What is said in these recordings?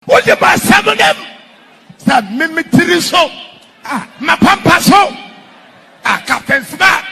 Wode m'asɛm nim sɛ me me tiri so ah, mapampa so ah, Captain Smart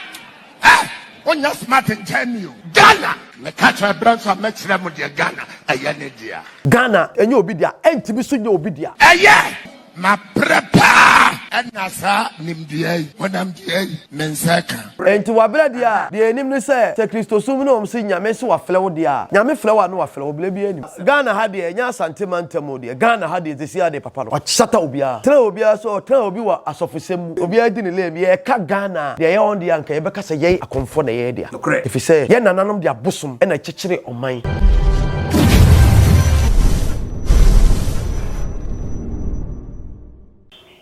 eh, wonyɛ smart nkyɛn ni o Ghana meka kyerɛ berɛ nso a mɛkyerɛ mo deɛ Ghana ɛyɛ ne dea Ghana ɛnyɛ obi dea ɛntumi so nyɛ obi dea. Ɛyɛ mabrɛ paa ɛna saa nimdeɛ yi honam deɛ yi me nsa ka. Ɛnti wabrɛ dea a deɛ ɛnim ne sɛ sɛ Kristosom ne wɔn se Nyame se wafrɛ wo dea a Nyame frɛ wo a ne wafrɛ wo berɛ biara nim. Ghana ha deɛ ɛnyɛ Asante mantam o deɛ Ghana ha deɛ sɛsi ara deɛ papa no wahyata obiara tra obiara so ɔtra obi wɔ asɔfosɛm mu obiara di ne lane deɛ ɛka Ghana a deɛ ɛyɛ wɔn deɛ anka yɛbɛka sɛ yɛn akɔmfoɔ na ɛyɛ dea ɛfiri sɛ yɛn nananom de abosom na akyekyere ɔman.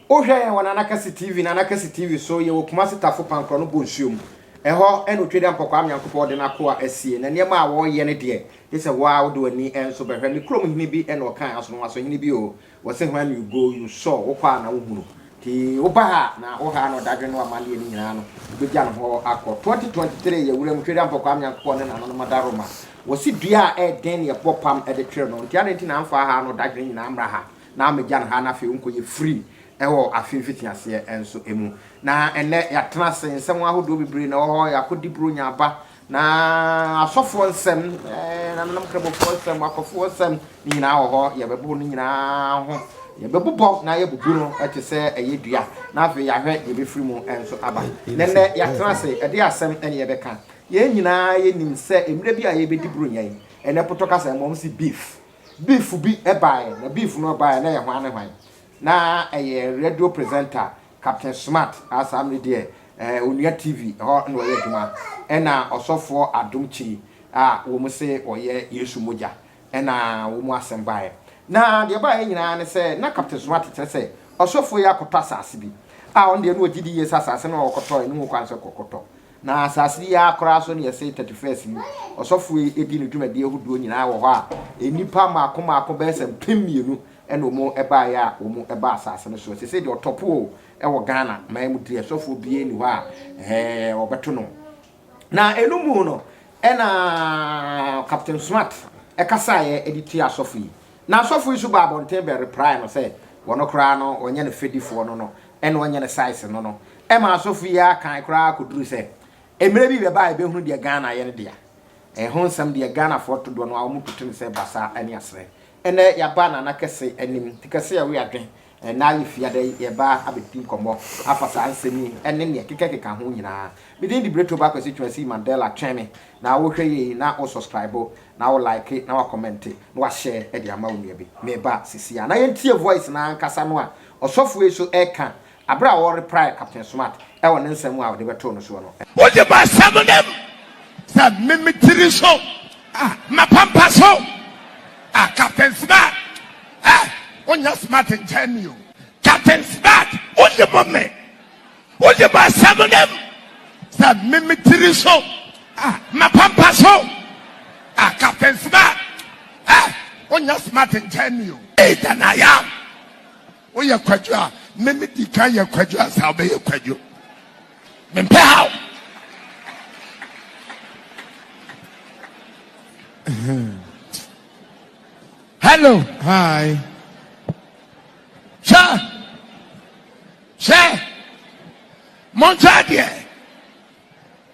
Wo hwɛ yɛn wɔ Nana Kɛse TV, Nana Kɛse TV so, yɛwɔ Kumasi Tafo Pankorɔ no Bonsuom. Ɛhɔ na Otwedeɛ Mpɔkwaa Nyankopɔn de n'akoa asie, na nneɛma a wɔreyɛ no deɛ, Gye sɛ wo ara wode w'ani nso bɛhwɛ. Me kurom hene bi na ɔkae asonoaso, hene bi o, wɔse when you go, you saw, wokɔ a na wohunu. Nti woba ha a, na wo ha na ɔdadwene ne w'amanneɛ no nyinaa no, wobɛgya no hɔ akɔ. 2023 yɛ wuram hwɛ Dampɔ Kwame Nyankopɔn ne Nananom Adaworoma. Wɔse dua a ɛyɛ den na yɛbɔ pam de twere no. Nti adɛn nti na amfa ha na ɔdadwene nyinaa ammra ha na ammɛgya no ha na afei wonkɔyɛ free wɔ afe mfitiaseɛ nso mu. Na ɛnnɛ yɛatena ase, nsɛm ahodoɔ bebree na ɛwɔ hɔ, yɛakɔdi Buronya aba, Na asɔfoɔ nsɛm, nananom Kramofoɔ nsɛm, akɔfoɔ nsɛm, ne nyinaa wɔ hɔ. Yɛbɛboro ne nyinaa ho. Yɛbɛbobɔ na yɛbubu no te sɛ ɛyɛ dua. Na afei yɛahwɛ deɛ ɛbɛfiri mu nso aba. Nɛnɛ yɛatena ase, ɛde asɛm ne yɛbɛka. Yɛn nyinaa yɛnim sɛ mmerɛ bi a yɛbɛdi boro nyɛn. Ɛnɛ potɔ kasa mmom se beef. Beef bi baeɛ, na beef no baeɛ na ɛyɛ hwan ne hwan? Na ɛyɛ radio presenter Captain Smart a saa mmere deɛ ɛɛ Onua TV hɔ na ɔyɛ adwuma ɛna Ɔsɔfoɔ Adom Kyei a wɔn se ɔyɛ Yesu Mogya ɛna wɔn asɛm baeɛ. Na deɛ ɛbaeɛ nyinaa ne sɛ na Captain Smart kyerɛ sɛ Ɔsɔfoɔ yi akɔtɔ asase bi a ɔno deɛ na ɔgye di yie sɛ asase no a ɔkɔtɔeɛ no ho kwan sɛ kɔkɔtɔ. Na asase yi ara koraa so na yɛse Thirty First yi Ɔsɔfoɔ yi di ne dwumadie ahodoɔ nyinaa wɔ hɔ a nnipa mmaako mmaako bɛyɛ sɛ mpem mmienu ɛna wɔbaeɛ a wɔbaa asase no soɔ. Seisei deɛ ɔtɔ po o, ɛwɔ Ghana man mu deɛ sɔfoɔ biara nni hɔ a ɛɛ wɔbɛto no. Na ɛno mu no, ɛna Captain Smart ɛkasaeɛ de tia asɔfo yi. Na asɔfo yi so baa abɔnten bɛ reprae no sɛ wɔn koraa no wɔnyɛ no fɛdifoɔ no no, ɛna wɔnyɛ no size no no. Ɛma asɔfo yi ara kan koraa kɔduru sɛ mmerɛ bi bɛba a yɛbɛhunu deɛ Ghana yɛ no dea. Ɛho nsɛm deɛ Ghanafoɔ to doɔ no ara wɔto no sɛ basaa ne aserɛ. Ɛnɛ yɛaba Nana kɛse anim. Ti kɛse a ɛwe adwen. Ɛnna yɛ fi ada yi yɛreba abɛdi nkɔmmɔ afa saa nsɛm yi ne neɛ ɛkekakeka ho nyinaa. Me din de Bretoba Kwasi Twumasi Mandela Twɛn me na wo hwɛ yei na wo sɔskraibo na wo laeke na wa kɔmɛnte na wa hyɛɛ de ama wo nua bi. Meba sisi a. Na yɛntie voice no ankasa no a ɔsɔfoɔ yi so ɛreka bere a wɔreprae Captain Smart wɔ ne nsɛm a ɔde bɛtoo no soɔ no. Wode m'asɛm nim sɛ me me tiri so a mapampa so a Captain Smart ɛ wonyɛ Smart nkyɛn me o Captain Smart wonim me Wode m'asɛm nim sɛ me me tiri so a mapampa so a Captain Smart ɛ wonyɛ Smart nkyɛn me o Hey than I am Woyɛ kwadwo a, me me di kan yɛ kwadwo ansa wobɛyɛ kwadwo. Mempɛ haw. Hello. Hi. Sir. Sir. Monta deɛ.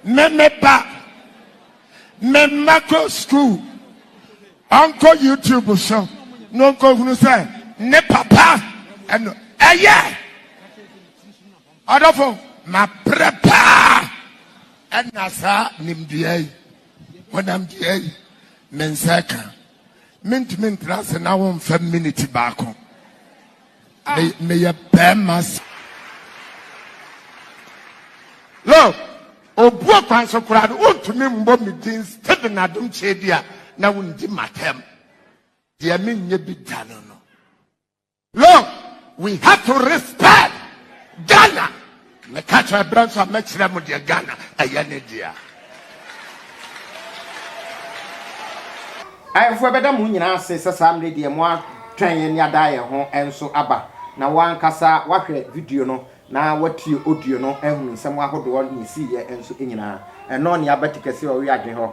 Me me ba. Me mma kɔ school. Ɔnkɔ YouTube so na ɔnkɔhunu sɛ ne papa ɛno ɛyɛ. Ɔdɔfo, mabrɛ paa ɛna saa nimdeɛ yi, honamdeɛ yi, me nsa ka. Mentumi ntra ase na womfa miniti baako. me meyɛ bɛrima sa lo obuo kwan so koraa no wontumi mmɔ me din steven adom kyɛ bi a na wondi matam deɛ menyɛ bi da no no lo we have to respect ghana Meka kyerɛ berɛ nso a mɛkyerɛ mo deɛ Ghana ɛyɛ ne dea. Ahemfo ɛbɛda mo nyinaa ase sɛ saa mmerɛ deɛ mo atwɛn yɛn ne adaa yɛn ho nso aba na wo ankasa wahwɛ video no na watie audio no ahunu nsɛm ahodoɔ ne ɛsiiɛ nso nyinaa. Ɛnɔ ne aba tikɛseɛ ɔwe adwen hɔ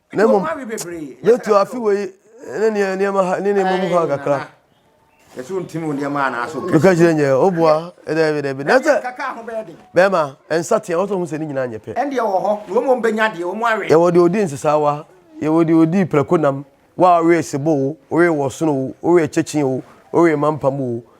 na mmom yɛtu afe wei ne neɛ nneɛma ha ne nneɛma mu ha kakra yɛsɛ ɔntimi wo nneɛma anaasɛ woka kyerɛ nyɛ woboa daabi daabi na sɛ bɛrima ɛnsa teɛ wɔsɛ ɔhu sɛ ne nyinaa nyɛ pɛ ɛndeɛ wɔ hɔ na wɔmɔ mbɛnya deɛ wɔmɔ awe yɛwɔ deɛ ɔdi nsesawa yɛwɔ deɛ ɔdi prɛko nam wo a wowe sebo o wowe wɔsono o wowe kyɛkye o wowe mampam o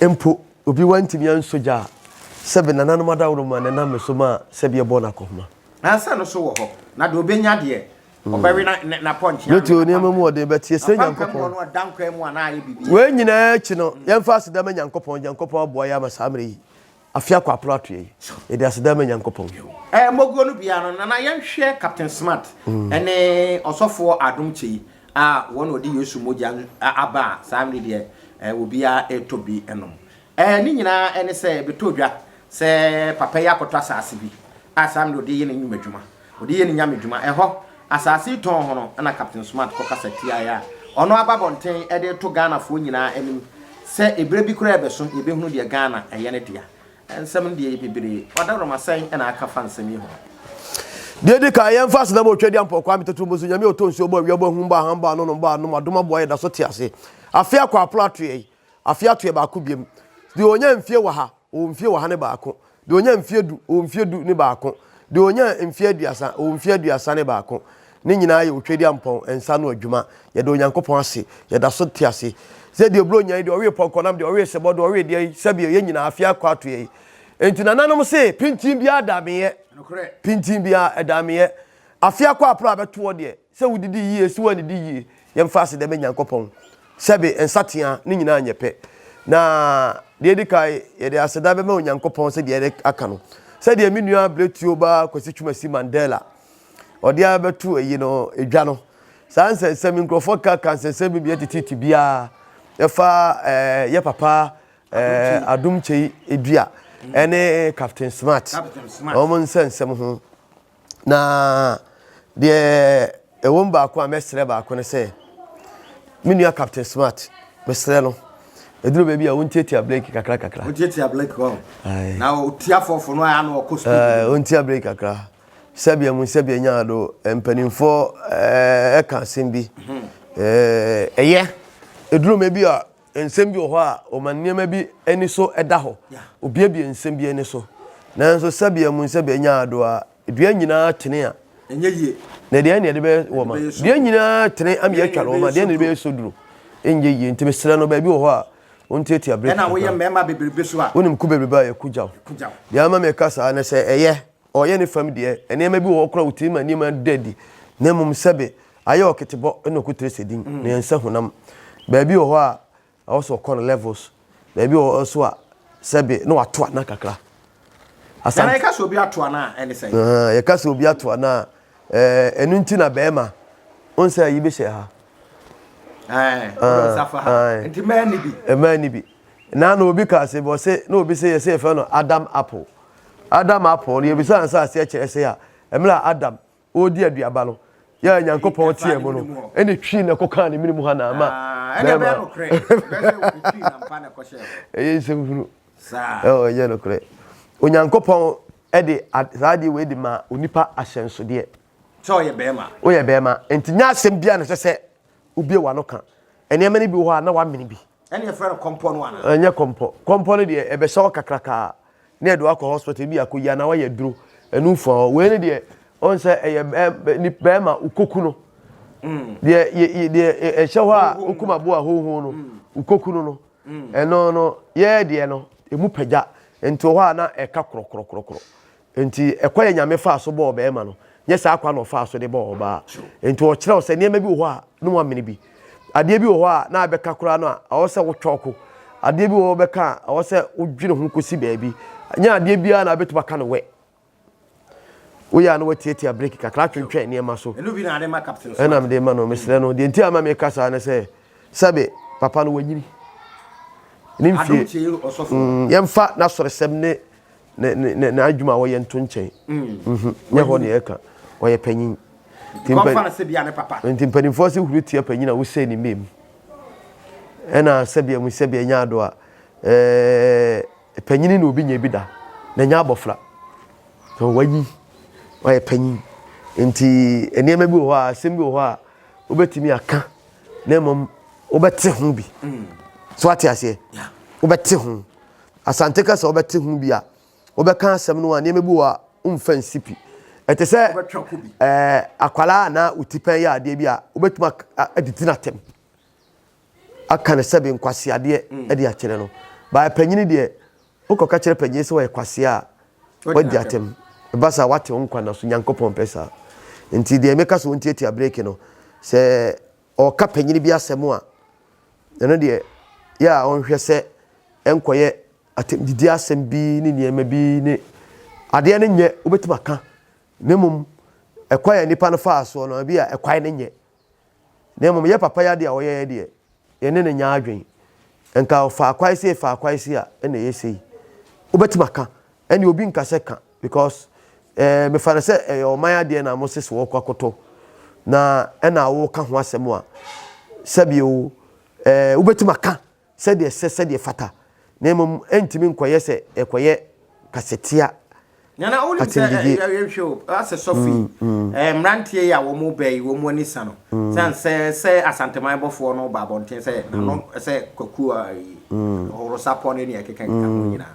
Mpo obi wantumi ansɔ gya a, sɛbe nananom adaworoma na ɛnam me so maa sɛbe ɛbɔɔ no akɔhoma. Nansa no so wɔ hɔ, na deɛ ɔbɛnya deɛ, ɔbɛwe na, na, n'apɔnkye ano. Bɛtu nneɛma mu ɔden, but yɛsrɛ Apampam mu Nyankopɔn. ɔno ɔda nkwa mu a na ayɛ biribi. Wei nyinaa akyi no, yɛmfa aseda ma Nyankopɔn, Nyankopɔn aboa yɛn ama saa mmerɛ yi, Afe akɔ aporo atoɛ yi, yɛde aseda ma Nyankopɔn. Ɛɛ mɔguo no biara no, Nana yɛnhwɛ Captain Smart ɛne ɔsɔfoɔ Adom Kyei a wɔn na ɔde Yesu mogya aba a saa mmerɛ yi deɛ ɛɛ obiara ɛretɔ bi ɛnom. Ɛɛ ne nyinaa ɛne sɛ ɛbɛtɔ dwa sɛ papa yi akɔtɔ asaase bi a saa mmerɛ ɔde yɛ ne nnwuma adwuma. Ɔde yɛ ne nyame dwuma. Ɛhɔ, asaase yi tɔn ho no na Captain Smart kɔ kasa tiaa a ɔno aba abɔnten de reto Ghanafoɔ nyinaa anim sɛ ɛberɛ bi koraa ɛbɛso yɛbɛhunu deɛ Ghana ɛyɛ ne dea. Nsɛm no deɛ ɛyɛ bebree. Ɔdawurama sɛn na aka fa nsɛm yi ho? Deɛ ɛdi kan, yɛmfa asenam a ɔtwa di ampɔn Kwame Tatumbua so, Nyame a ɔtɔ nsuo bɔ awia bɔ ahum bɔ ahan bɔ anonom bɔ anom adom aboa yɛ da so te ase afe akɔ apono atoeɛ yi. Afe atoɛ baako biam. Deɛ ɔnya mfie wɔ ha, ɔwɔ mfie wɔ ha ne baako. Deɛ ɔnya mfie du, ɔwɔ mfie du ne baako. Deɛ ɔnya mfie aduasa, ɔwɔ mfie aduasa ne baako. Ne nyinaa yɛ Otwedeampɔn nsa ano adwuma. Yɛda Onyankopɔn ase. Yɛda so te ase. Sɛ deɛ Oburo nya yi, deɛ ɔwee Pɔnkɔnam, deɛ ɔwee Sebɔ, deɛ ɔwee deɛ yi, sɛbio, yɛn nyinaa, afe akɔ atoɛ yi. Enti nananom se, pintinn biara da me yɛ. Pintinn biara, ɛda me yɛ. Afe akɔ aprɛ a bɛtoɔ deɛ, Sɛ wodidi yie, sɛ woannidi yie, yɛmfa aseda ma Nyankopɔn. Sɛbe, nsatea, ne nyinaa nyɛ pɛ. Na deɛ ɛdi kan, yɛde aseda bɛma Onyankopɔn sɛ deɛ aka no. Sɛdeɛ me nua abiretuo baa Kwasi Twumasi Mandela, ɔde ara bɛto ayi no, dwa no. Saa nsɛnsɛm yi, nkurɔfoɔ ka ka nsɛnsɛm bi mmiɛ tititi biara ɛfa eh, yɛ papa eh, Adom Kyei Dua ɛne Captain Smart wɔn nsɛnsɛm ho. Na deɛ ɛwɔ mu baako a mɛsrɛ baako no sɛ, me nua Captain Smart, mesrɛ no, ɛduru baabi a wontiatia breki kakra kakra. Wontiatia breki hɔ. Na ɔtia fɔfo no a na ɔkɔ speed. Eh, wontia breki kakra. Sɛbea mu sɛbea nyaa do mpanimfoɔ ɛka asɛm bi. Ɛyɛ, ɛduru baabi a Nsɛm bi wɔ hɔ a, wɔma nneɛma bi ani so da hɔ. Wobiebie nsɛm bi ani so. Nanso sɛbea mu sɛbea nya ado a, dua nyinaa tene a, na deɛn na yɛde bɛyɛ wɔn a? Dua nyinaa tene ama yɛatwa no wɔn a, deɛn na yɛde bɛyɛ soduro? Ɛnyɛ yie. Nti mesrɛ no, baabi wɔ hɔ a, ɔntiatia berɛ kakra. Wonim ku bebrebe a yɛkugyaw. Deɛ ama meka saa ne sɛ, ɛyɛ ɔyɛ ne fam deɛ, nneɛma bi wɔ hɔ koraa a ɔtumi ma nneɛma no da adi, na mmom sɛbe ayɛ ɔketebɔ na ɔkɔtire sɛ din, na yɛnsa honam. Baabi wɔ hɔ a, ɛwɔ sɛ ɔkɔ no levels, baabi wɔ hɔ nso a, sɛbe na wato ana kakra. Asante. Nana, yɛka sɛ obi ato ana a, ɛne sɛn? Ah, yɛka sɛ obi ato ana a, eh, ɛno nti na bɛrima, ɔn sɛ ayi bɛhyɛ ha. Eh, wodɔ nsa fa ha. Aye. Nti mmaa ni bi. Mmaa ni bi. Na na obi kaa sɛ, bɔ se, na obi se yɛsɛ yɛfɛ no Adam apple. Adam apon no, yebisa ansa ase kyerɛ sɛ a mmerɛ a Adam ɔredi aduaba no, yɛ a Nyankopɔn teɛ mu no, ɛne twii na ɛkɔ kaa ne mene mu ha na ama bɛɛma. Ɛyɛ nsɛm hunu. Ɛyɛ nokorɛ. Onyankopɔn de saa adeɛ wei de maa onipa ahyɛnsodeɛ. Sɛ ɔyɛ bɛɛma. Woyɛ bɛɛma. Nti nyɛ asɛm biara na ɛsɛ sɛ wobie w'ano ka. Nneɛma no bi wɔ hɔ a na wamene bi. Ɛne yɛfrɛ no kɔmpɔ no anaa? Ɛnyɛ kɔmpɔ. Kɔmpɔ no deɛ ɛbɛhyɛ wo kakrakaa na ɛde wakɔ hospital ebi akɔyi anaa wayɛ duro ɛno mfua hɔ. Wei no deɛ ɔn sɛ ɛyɛ bɛrima wokɔku no deɛ deɛ ɛhyɛ hɔ a wokum aboa hoho no wokɔku no no ɛno no yɛɛ deɛ no ɛmu pagya nti wɔ hɔ a na ɛka korɔkorɔkorɔkorɔ Enti, ɛkwan a Nyame faa so bɔɔ ɔbarima no, nyɛ saa kwan na ɔfaa so de bɔɔ ɔbaa. Enti ɔkyerɛw sɛ nneɛma bi wɔ hɔ a na wɔamene bi. Adeɛ bi wɔ hɔ a na abɛka koraa no a ɛwɔ sɛ wotwa ɔko. Adeɛ bi wɔ hɔ a wobɛka a ɛwɔ sɛ wodwene ho kɔsi baabi. Ɛnyɛ adeɛ biara na wobɛtumi aka no wɛ. Woyɛ a na woatiatia breki kakra atwentwɛn nneɛma so. Ɛna mede ma no. Mesrɛ no, deɛ nti a ma meka saa ne sɛ, sɛbe papa no wanyini. Ne mfie, mm, yɛmfa n'asɔresɛm ne ne ne ne n'adwuma a wɔyɛ nto nkyɛn nyɛ hɔ nea ɛka ɔyɛ panyin nti mpanimfoɔ se huru tia panyin a wosɛe ne mmam ɛna sɛbea mu sɛbea nya ado a panyin na obi nya bi da na nya abɔfra na wayi ɔyɛ panyin nti nneɛma bi wɔ hɔ a asɛm bi wɔ hɔ a wobɛtumi aka na mmom wobɛte ho bi so ate aseɛ wobɛte ho Asante kasa wobɛte ho bi a, wobɛka asɛm no a, nneɛma bi wɔ hɔ a womfa nsi pi. Ɛte sɛ ɛɛ akwadaa a na wo tipɛn yɛ adeɛ bi a, wobɛtumi adidi n'atɛm aka no sɛbe nkwaseadeɛ mm. de akyerɛ no. Baa panyini deɛ, wokɔka kyerɛ panyini sɛ wɔyɛ kwasea a, wadi atɛm. Ɛba saa wate wo nkwa na so, Nyankopɔn pɛ saa. Nti deɛ meka sɛ wɔntiatia breki no, sɛ ɔreka panyin bi asɛm a, ɛno deɛ yɛ a ɔnhwɛ sɛ ɛnkɔyɛ atɛmdidi asɛm bi ne nneɛma bi ne adeɛ no nyɛ wobɛtumi aka na mmom ɛkwan a nipa no faa soɔ no ebi a ɛkwan no nyɛ na mmom yɛ papa yɛ adeɛ a ɔyɛɛ deɛ yɛne no nyɛ adwen nka ɔfaa kwae sei faa kwae sei a ɛna ɛyɛ sei wobɛtumi aka ɛne obi nka sɛ ka Because eh mefa no sɛ ɛyɛ ɔman adeɛ na mo se sɛ wɔkɔ akɔtɔ na ɛna woka ho asɛm a sɛbi o eh wobɛtumi aka sɛdeɛ ɛsɛ sɛdeɛ ɛfata na mmom ɛntumi nkɔyɛ sɛ ɛkɔyɛ kasatia Nana wonim sɛ atendigye. yɛhwɛ o asɛ sɔfo yi eh, mmeranteɛ yi a wɔn ba yi wɔn ani sa no sane sɛ sɛ asanteman bɔfoɔ no ba abɔnten sɛ nano sɛ kwakuo a yi ɔworosapɔ ne nea ɛkeka keka ho nyinaa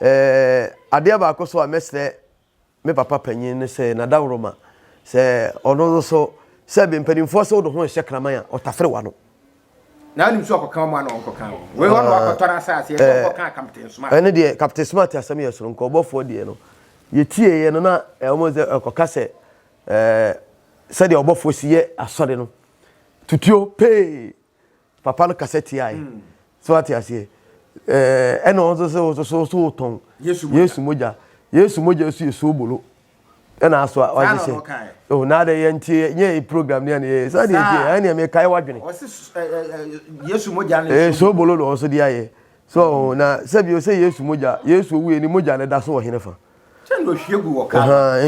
Ɛɛ, adeɛ baako nso a mɛsrɛ me papa panin ne sɛ, Nadawroma, sɛ ɔno nso, sɛbe mpanimfoɔ sɛ wode ho rehyɛ kraman a, ɔtafere w'ano. Na wonim sɛ ɔkɔka wɔn ano a ɔnkɔka wɔn. Wei hɔ na wakɔtɔn asaseɛ sɛ ɔnkɔka Captain Smart. Ɛno deɛ Captain Smart asɛm yɛ soronko. Ɔbɔfoɔ deɛ no, yɛtieeɛ no na wɔn sɛ ɔkɔka sɛ ɛɛ sɛdeɛ ɔbɔfoɔ si yɛ asɔre no, tutuo pee Papa no kasa tiae. So ate aseɛ? Ɛɛ ɛna wɔn nso sɛ wɔn nso so so tɔn. Yesu mogya. Yesu mogya so yɛ soobolo. Ɛna aso a wɔn nso sɛ. Oh na adɛ yɛn ti yɛ yɛ program ni ɛna yɛ. Saa deɛ nti yɛ ɛna yɛ kae wadwene. Yesu mogya no. Ɛɛ soobolo na wɔn nso de ayɛ. So na sɛbi o sɛ Yesu mogya. Yesu owu yɛ ni mogya na ɛda so wɔ hene fa.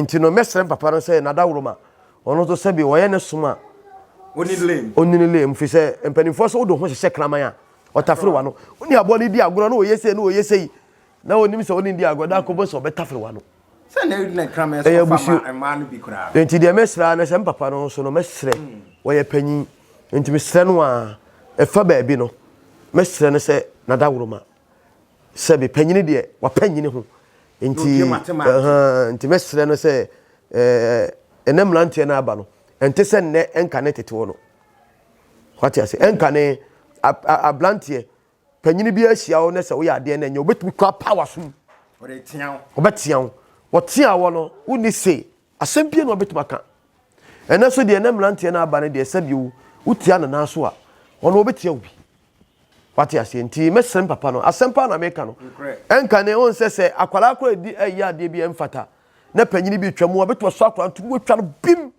nti no mɛsrɛ papa no sɛ nadaworoma ɔno nso sɛbi ɔyɛ ne som a ɔnini lem firi sɛ mpanimfoɔ sɛ wode ho hyehyɛ kraman a ɔtafere wa no wone aboa no di agorɔ na ɔyɛ sei na ɔyɛ sei na ɔnim sɛ wone di agorɔ da akɔbɔ sɛ ɔbɛtafere wa no ɛyɛ abusuo nti deɛ mɛsrɛ na sɛ mpapa no nso no mɛsrɛ wɔyɛ panyin nti mesrɛ no a ɛfa baabi no mɛsrɛ no sɛ nadaworoma Sɛ me panyini deɛ wapanyini ho nti nti mɛsrɛ no sɛ ɛnɛ mmeranteɛ no aba no ɛnte sɛ nnɛ ɛnka ne tetew no wate ase ɛnka ne abranteɛ panyini bi ahyia wo na sɛ woyɛ adeɛ na ɛnyɛ wobɛtumi kora power so mu ɔbɛtea wo ɔtea wɔ no wonni se Asɛm pii na wɔbɛtumi aka. Ɛnnɛ nso deɛ na mmeranteɛ no aba no deɛ sɛ bio wotia no nan so a, ɔno ɔbɛtia wo bi. Wate aseɛ nti mɛsrɛ me papa no, asɛm paa na meka no. Ɛnka ne ho nsɛ sɛ akwadaa koraa ɛdi ɛyɛ adeɛ bi ɛmfata na panyini bi twa mu a, ɔbɛtumi asɔ akwadaa no to mu atwa no bim.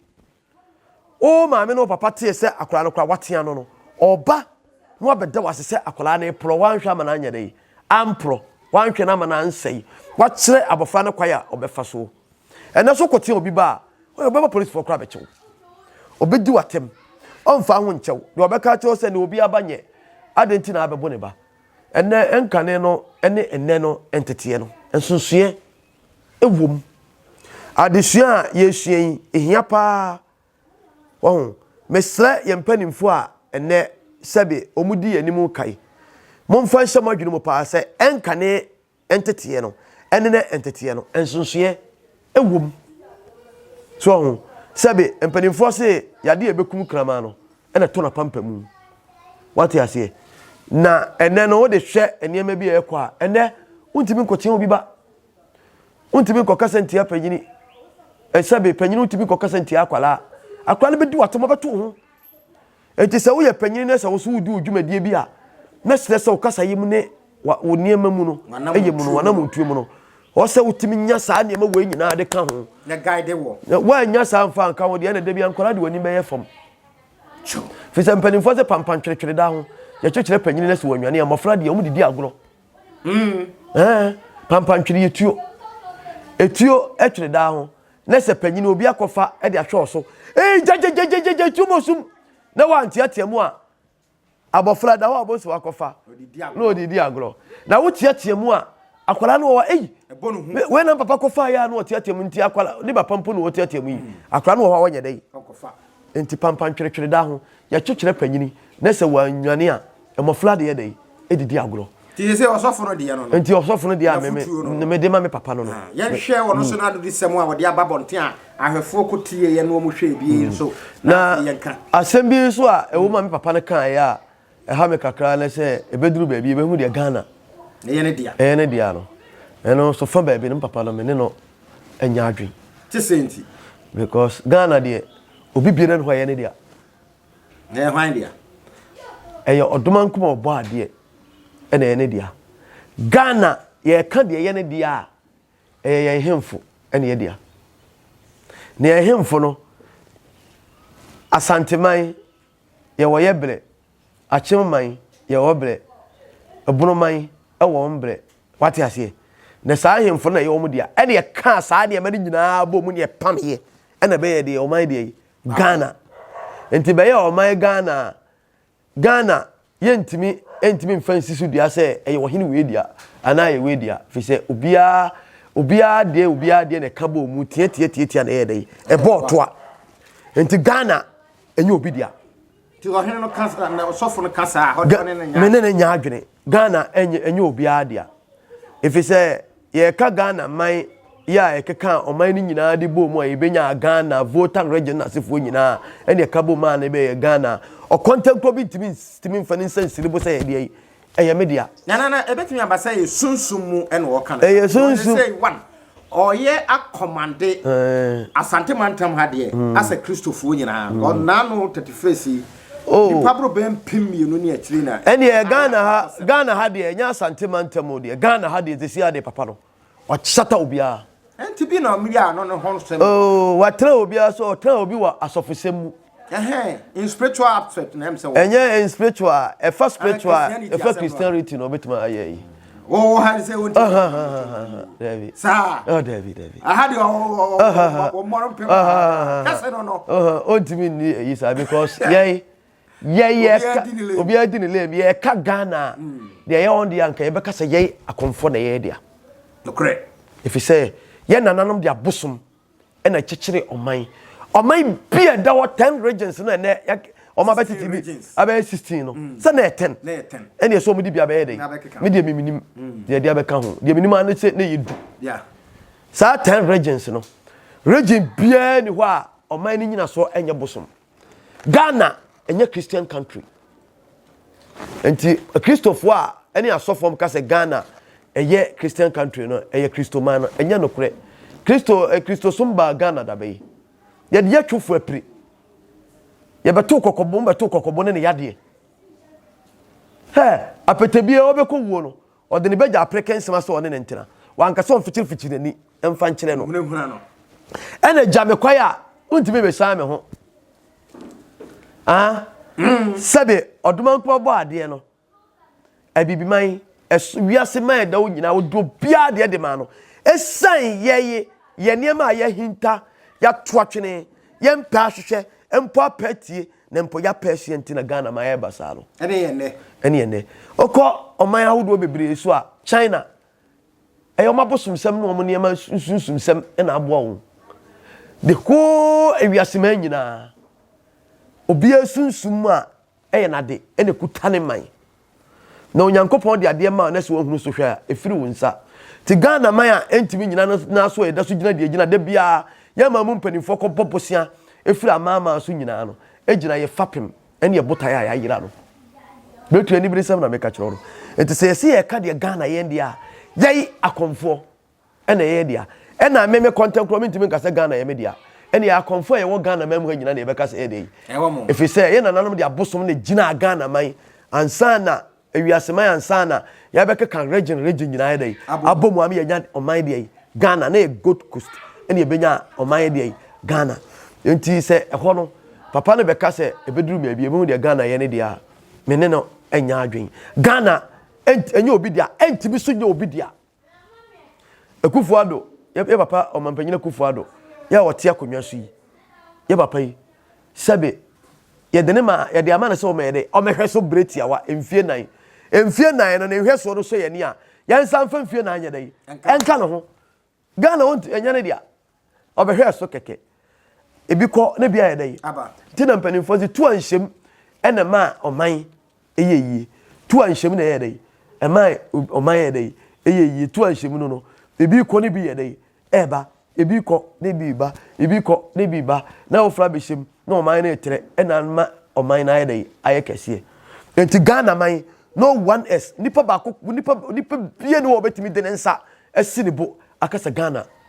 O maame no papa teɛ sɛ akwadaa no koraa watea no no, ɔba na wabɛda wase sɛ akwadaa no reporɔ, wanhwɛ ama no anyɛ dɛ, amporɔ, wanhwɛ no ama no ansɛe, wakyerɛ abɔfra no kwan a ɔbɛfa soɔ. ɛnɛ so kɔtea obi ba a ɔbɛma polisfoɔ koraa bɛkye wo ɔbɛdi w'atɛm ɔmfa ho nkyɛw deɛ ɔbɛka kyerɛ sɛ ne obi aba nyɛ adɛn nti na abɛbo ne ba ɛnɛ nkane no ne ɛnɛ no nteteɛ no nsonsoeɛ ɛwom adesua a yɛsua yi ɛhia paa wɔho mesrɛ yɛn mpanimfoɔ a ɛnɛ sɛbe wɔn di yɛn anim kae momfa nhyɛ mo adwene mu paa sɛ ɛnkane nteteɛ no ɛne ne nteteɛ no nsonsoeɛ ɛwɔ mu so ɔho sɛbe mpanimfoɔ se yadeɛ ɛbɛkum kraman no ɛna ɛtɔ n'apampa mu wate aseɛ na ɛnɛ no wode hwɛ nneɛma bi a ɛkɔ a ɛnɛ wontumi nkɔkyea obi ba wontumi nkɔkasa ntia panyini ɛsɛbe panyini wontumi nkɔkasa ntia akwalaa akwalaa no bɛdi watom ɔbɛto ho Enti sɛ woyɛ panyin na sɛ wo nso wudi wo dwumadie bi a, na kyerɛ sɛ wo kasayɛ mu ne wo nneɛma mu no, yɛ mu no, w'anammɔntuo mu no, ɔwɔ sɛ wotumi nya saa nneɛma wei nyinaa de ka ho. Na guide wɔ. Na woannya saa mfa anka ho deɛ, ɛna da bi nkwadaa de wɔn anim bɛyɛ fam. Firi sɛ mpanimfoɔ sɛ pampan tweretwere da ho, yɛkyekyerɛ panyin na sɛ wɔanwane a, mmɔfra deɛ wɔn didi agorɔ. Mm. Ɛɛ, pampan twere yɛ tuo. Etuo twere da ho. na sɛ panyin obi akɔfa de ahwɛ ɔso, ee gyagyagyagyagyagya tuom osum na wanteatea mu a, abɔfra da hɔ a ɔbɔ nso akɔfa na ɔde di agorɔ. Na woteatea mu a, akwadaa no wɔ hɔ ei, wei na papa kɔfa yɛ a na ɔteatea mu nti akwadaa ne papa mpo na ɔteatea mu yi, hmm. akwadaa no wɔ hɔ a wɔnyɛ dɛ yi. Nti pampantweretwere da ho, yɛkyekyerɛ panyin na sɛ wannwane a, Mmɔfra de yɛ dɛn? Didi agorɔ. Nti sese ɔsɔfo no deɛ no no. Nti ɔsɔfo no deɛ a meme mede ma me papa no no. Yɛnhwɛ wɔn nso n'adodisɛm a wɔde aba abɔnten a ahwɛfoɔ kɔ tieeɛ na wɔhwɛɛ bi yi nso na afei yɛnka. Asɛm bi nso a ɛwɔ mu a me papa no kaeɛ a ɛha me kakra ne sɛ ɛbɛduru baabi yɛbɛhu deɛ Ghana ɛyɛ ne dea ɛyɛ ne dea no. Ɛno nso fa baabi no me papa no me ne no anya adwene. Te sɛn nti? Because Ghana deɛ obi biara nni hɔ a ɛyɛ ne dea. Na ɛyɛ hwan dea? Ɛyɛ Ɔdomankum a ɔbɔ adeɛ na ɛyɛ ne dea. Ghana, yɛka deɛ ɛyɛ ne dea a, ɛyɛ yɛn hemfo na ɛyɛ dea. Na yɛn hemfo no, Asanteman, yɛwɔ yɛ berɛ, Akyenman, yɛwɔ berɛ, Ebonoman, ɛwɔ wɔn berɛ. Wate aseɛ? Na saa ahemfo no na ɛyɛ wɔn dea. Ɛna yɛkaa saa nneɛma no nyinaa bɔ mu na yɛpameeɛ na ɛbɛyɛ deɛ ɔman deɛ yi. Ghana. Nti bɛyɛɛ ɔman Ghana a, Ghana yɛntumi ntumi mfa nsi so dua sɛ ɛyɛ ɔhene wei dea anaa ɛyɛ wei dea firi sɛ obiara obiara deɛ obiara deɛ na ɛka bɔɔ mu tiatiatiatia na ɛyɛ dɛ ɛbɔɔ toa. Nti Ghana ɛnyɛ obi dea. Ti ɔhene no ka saa na ɔsɔfo no ka saa a, ɔne no nya. Me ne no nya adwene. Ghana ɛnyɛ ɛnyɛ obiara dea. Efisɛ yɛka Ghana man yɛ a ɛkeka ɔman no nyinaa de bɔ mu a yɛbɛnya Ghana Volta region asefoɔ nyinaa ɛne ɛka bɔ mu a na ɛbɛyɛ Ghana. Ɔkɔntɛnkorɔ bi ntumi ntumi mfa ne nsa nsiri bo sɛ yɛdeɛ yi. Ɛyɛ me dea. Na, na, na ɛbɛtumi aba sɛ ɛyɛ sunsum mu ɛna ɔka no. Ɛyɛ sunsum. Ɔyɛ sɛ one, ɔyɛ akɔmande Asante mantam ha deɛ hmm. asɛ Kristofoɔ nyinaa. Hmm. Ɔnaa no tete fesi yi. Oh. Nipa boro bɛn mpem mmienu ne akyire na. Ɛnni yɛ Ghana ha Ghana ha deɛ ɛnyɛ Asante mantam o deɛ Ghana ha deɛ tesi ha deɛ papa no. ɔkyata obiara. Ɛnti bi na ɔmeyɛ ano ne ho nsɛm. Oh, watena obiara so, ɔtena obi wɔ asɔfosɛm mu. Ɛhɛn, in spiritual aspect na ɛm sɛ wɔ. Ɛnyɛ in spiritual, ɛfa spiritual, ɛfa Christianity na ɔbɛtumi ayɛ yi. Wɔwɔ ha sɛ wɔn ti. Dabi. Saa. Oh, dabi, dabi. Aha de wɔn mmɔrɔ mpem. Kɛse no no. Ɔntumi nni eyi saa because yɛn. yɛyɛ ka obiara di ne lane bi yɛka ghana a deɛ ɛyɛ wɔn deɛ anka yɛbɛka sɛ yɛn akɔmfoɔ na ɛyɛ dea ɛfiri sɛ yɛn nananom de abosom ɛna kyekyere ɔman ɔman bi a ɛda hɔ ten regions no ɛnɛ ɔma bɛtete bi abɛyɛ sixteen no mm. sɛ na yɛ ten ɛna ɛsɛ wɔn de bi abɛyɛ dɛ me deɛ miminim mm. deɛ deɛ abɛka ho deɛ minim ano sɛ na yɛ du saa ten regions no region biara ni hɔ a ɔman no nyina soɔ ɛnyɛ bosom. Ghana ɛnyɛ Christian country. Nti Kristofoɔ a ɛne asɔfoɔ ka sɛ Ghana ɛyɛ Christian country no ɛyɛ Kristoman no ɛnyɛ nokorɛ. Kristo eh, Kristosom baa Ghana daba yi. Yɛde yɛtwofo apiri. Yɛbɛto kɔkɔbo, bɛto kɔkɔbo ne ne yadeɛ. Hɛ, apɛtɛbie ɔbɛkɔ wuo no. Ɔde ne bagya apere kɛnsema sɛ ɔne no ntena. Wanka sɛ ɔmfikyirifikyiri n'ani mfa nkyerɛ no. Hunahuna no. Ɛna gya me kwae a wontumi mmesan me ho. Ah, mm. sɛbe ɔdomankoma bɔ adeɛ no, abibiman, ɛso wiase man ɛda wo nyinaa, wode obiara deɛ de maa no. Ɛsiane yɛye yɛ nneɛma a yɛahinta, yɛato atwene, yɛmpɛ ahwehwɛ, mpo apɛ atie, Na mpo ya pɛɛseɛ nti na Ghana ma yɛɛba saa no. Ɛne yɛ nnɛ. Ɛne yɛ nnɛ. Wokɔ ɔman ahodoɔ bebree so a, China, ɛyɛ wɔn abosomsɛm ne wɔn nneɛma nsunsumsɛm na aboa wɔn. The whole ewiaseman nyinaa, obiara sunsum mu a ɛyɛ n'ade na ɛkuta ne man. Na Onyankopɔn de adeɛ maa na sɛ wahunu so hwɛ a, ɛfiri wo nsa. Nti Ghana man a ɛntumi nnyina no nan so a yɛda so gyina deɛ ɛgyina da biara, yɛn aman mu mpanimfoɔ kɔbɔ bosea firi amanaman so nyinaa no gyina yɛn fapem ne yɛn botaeɛ a yɛayera no. Bɛtua aniberesɛm na meka kyerɛ wo no. Nti sɛ yɛse yɛka deɛ Ghana yɛn deɛ a, yɛye akɔmfoɔ. Ɛna ɛyɛ yɛn dea. Ɛna me me kɔntɛn korɔ mentumi nka sɛ Ghana yɛ me dea. Ɛna yɛn akɔmfoɔ a yɛwɔ Ghana man mu ha nyina na yɛbɛka sɛ ɛyɛ dɛ yi. Ɛfiri sɛ yɛn nananom de abosom na ɛgyinaa Ghana man ansa na ewiase man ansa na yɛbɛkeka region region nyinaa yɛ dɛ yi abɔ mu ama yɛnya ɔman deɛ yi Ghana na yɛ Gold Coast ɛna yɛbɛnya ɔman yɛ deɛ yi Ghana. Nti sɛ ɛhɔ no papa no bɛka sɛ ɛbɛduru baabi yɛbɛhu deɛ Ghana yɛ ne deɛ a me ne no nyɛ adwene. Ghana ɛnyɛ obi dea, ɛntumi so nyɛ obi dea. Akufo Addo, yɛ yɛ papa Ɔmampanyin Akufo Addo, yɛ a ɔte akonnwa so yi, yɛ papa yi, sɛbe yɛde no ma, yɛde ama no sɛ ɔmmɛyɛ dɛ, ɔmmɛhwɛ so bere tiawa, mfie nnan. Mfie nnan no, ne nhwɛsoɔ no sɔ yɛn ani a, yɛnsan mfa mfie nnan nyɛ dɛn? Nka ne ho. Ghana, ɔntu, ɛnyɛ ne dea. ɔbɛhwɛɛ so kɛkɛ. Ebi kɔ na ebi ayɛ dɛn aba. Nti na mpanimfoɔ dze tu anhyɛm na ɛmaa ɔman yɛ yie. Tu anhyɛm na ɛyɛ dɛn ɛmaa ɔman yɛ dɛn ɛyɛ yie. Tu anhyɛm no no ebi rekɔ na ebi yɛ dɛn ɛreba. Ebi rekɔ na ebi reba. Ebi rekɔ na ebi reba. Na afoforɔ abɛhyɛm na ɔman no retrɛ na ama ɔman no ayɛ dɛn ayɛ kɛseɛ. Nti Ghana man no one is nipa baako nipa nipa biara ni hɔ a ɔbɛtumi de ne nsa asi ne bo akasa Ghana.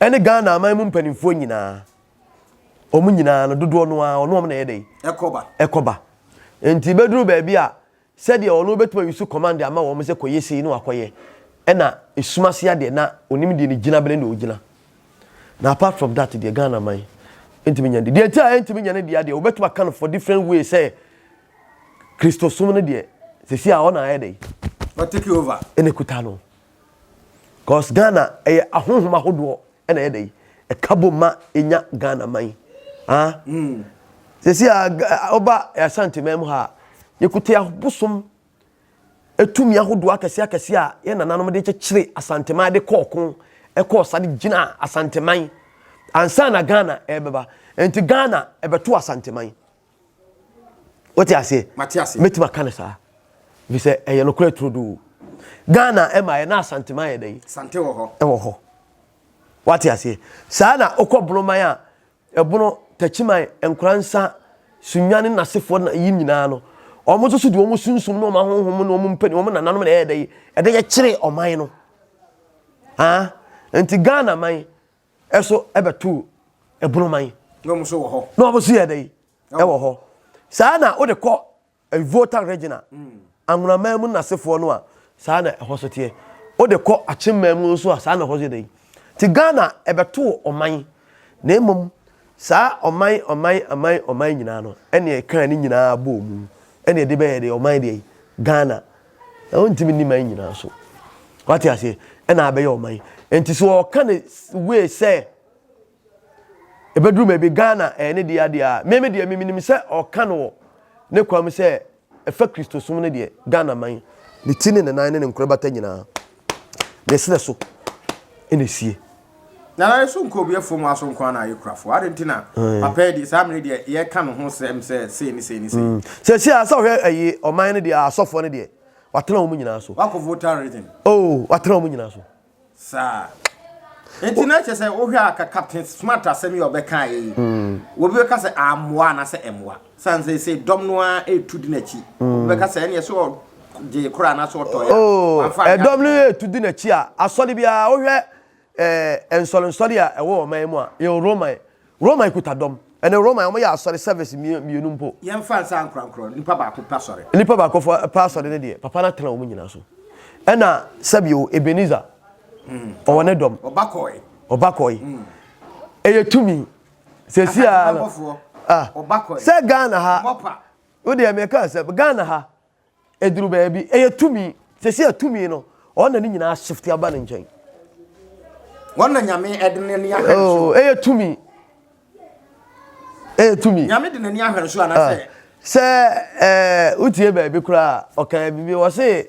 ɛne Ghana aman mu mpanimfoɔ nyinaa wɔn nyinaa no dodoɔ no ara ɔno wɔn na ɛyɛ dɛ ɛkɔba ɛkɔba nti bɛduru baabi a sɛdeɛ ɔno bɛtuma yi so kɔmande ama wɔn sɛ kɔyɛ sei no akɔyɛ ɛna esum ase adeɛ na onim deɛ ne gyina bene na ogyina na apart from that deɛ Ghana man ntumi nya deɛ nti a ntumi nya ne deɛ adeɛ wɔbɛtuma ka no for different way sɛ kristosom no deɛ sisi a ɔna ayɛ dɛ ɔtake over ɛna kuta no. Cos Ghana ɛyɛ ahonhom ahodoɔ ɛna ɛyɛ dɛ yi ɛka bom ma yɛnya Ghana man ah sɛsi a ɔba Asante man mu ha yɛkuta abosom ɛtumi ahodoɔ akɛseɛ akɛseɛ a yɛ nananom de kyekyere Asante man de kɔɔ ko ɛkɔɔ sa de gyina Asante man ansa na Ghana ɛbɛba nti Ghana ɛbɛto Asante man. wote aseɛ mɛtumi aka no saa efisɛ ɛyɛ no korɛ turodoo ghana ɛma yɛ na asantema yɛ dɛn ɛwɔ hɔ wote aseɛ saa na wokɔ bonoman a ɛbono takyiman nkora nsa sunya ne nasefoɔ na yi nyinaa no wɔn nso so de wɔn sunsum ne wɔn ahohom ne wɔn mpani wɔn nananom na ɛyɛ dɛn ɛdɛn yɛkyerɛ ɔman no ah nti ghana man So ɛbɛto ɛbono man. Na wɔn nso wɔ hɔ. Na wɔn nso yɛ dɛ yi, ɛwɔ hɔ. Saa na wode kɔ Volta region a, mm. Angonaman mu nasefoɔ no a, saa na ɛhɔ so teɛ. Wode kɔ Akyemman mu nso a, saa na ɛhɔ so yɛ dɛ yi. Ti Ghana ɛbɛto ɔman, na mmom saa ɔman ɔman ɔman ɔman nyinaa no, ɛne ɛkaa ne nyinaa bɔɔ mu, ɛne ɛde bɛyɛ deɛ ɔman deɛ yi, Ghana. Na ɔntumi nni man nyinaa so. Wate aseɛ? Ɛna abɛyɛ ɔman. Nti so ɔka ne wei sɛ ɛbɛduru baabi Ghana ɛyɛ ne deɛ adeɛ a meme deɛ memenim sɛ ɔka no wɔ ne kwa mu sɛ ɛfa Kristosom no deɛ Ghana man ne ti ne ne nan ne ne nkorebata nyinaa ne srɛ so na esie. Na na so nkɔ obi afuo mu aso nko ara na ayɛ kurafo ade nti na eh. papa yi deɛ saa mmere deɛ yɛka ne ho sɛm sɛ sei ne sei ne sei. Mm. sɛsi a sɛ ɔhwɛ ayi ɔman no deɛ asɔfoɔ no deɛ watena wɔn nyinaa so. wakɔ voter reason. oo oh, watena wɔn nyinaa so. saa nti na kyerɛ sɛ wohwɛ a ka captain smart asɛm yi ɔbɛka yi mm. obi bɛka sɛ amoa anaasɛ ɛmoa. San seesei dɔm no ara retu di n'akyi. Obi bɛka sɛ ɛneɛ sɛ ɔgyee koraa anaa sɛ ɔtɔeɛ a, wamfa anyɛ Ɛdɔm no adwuma. retu di n'akyi a, asɔre biara, wohwɛ eh, nsɔrensɔre a ɛwɔ ɔman yi mu a, yɛwɔ Roman. Roman kuta dɔm. Ɛnɛ Roman, wɔyɛ asɔre service mmie- mmienu mpo. Yɛmfa nsa nkorankorɔ, nipa baako pɛ asɔre. Nipa baako fo- pɛ asɔre no deɛ, Papa no atena wɔn nyinaa so. Ɛna sɛbio, Ebenezer, ɔwɔ ne dɔm. Ɔba kɔɔe. Ɔba kɔɔe. Ɛyɛ tumi. sɛsi ara no ah sɛ ghana ha wo deɛ meka sɛ ghana ha ɛduru baabi ɛyɛ tumi sɛsi a tumi no ɔn na ne nyinaa shift aba ne nkyɛn wɔn na nyame ɛde n'ani ahwɛ oh, so ɛyɛ tumi ɛyɛ tumi nyame de n'ani ahwɛ so anasɛ ah. sɛ ɛɛ eh, wotie baabi koraa ɔkan bibi wɔ se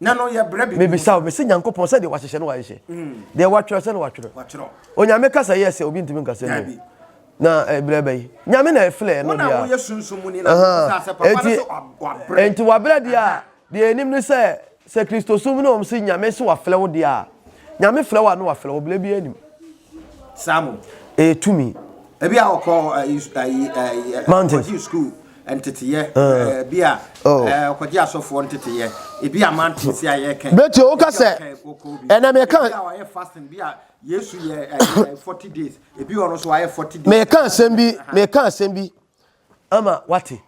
na no yɛ brɛ bibi. Mebisa wo, mese Nyankopɔn sɛ deɛ wahyehyɛ no wahyehyɛ, mm. deɛ watwerɛ sɛ no watwerɛ. Onyame kasa yɛ sɛ obi ntumi nkasa mu. Na eh, brɛ bɛyi. Nyame na ɛfilɛ no deɛ. Wɔn a sunsum mu ni na wɔn sɛ papa no so wabrɛ. Enti wabrɛ deɛ a, deɛ enim ne sɛ sɛ Kristo sum ne wɔn se Nyame se wafilɛ wo deɛ a, Nyame filɛ wo a no wafilɛ wo, brɛ bi anim. Samu. Ɛyɛ tumi. Ebi a ɔkɔ ayi ayi ayi Mountain. ɔkɔgye sukuu nteteyɛ ɛɛ, bi a Oh. ɛɛ, ɔkɔgye asɔfoɔ nteteyɛ ebi a mountain si a yɛka yi. Bɛti, woka Ebi a sɛ, ɔka ɔkɔ bi. ɛnna meka- Ebi a ɔyɛ fasting bi a Yesu yɛ ɛɛ, 40 days ebi ɔno nso wayɛ 40 days. meka asɛm bi Aha. meka asɛm bi ama wate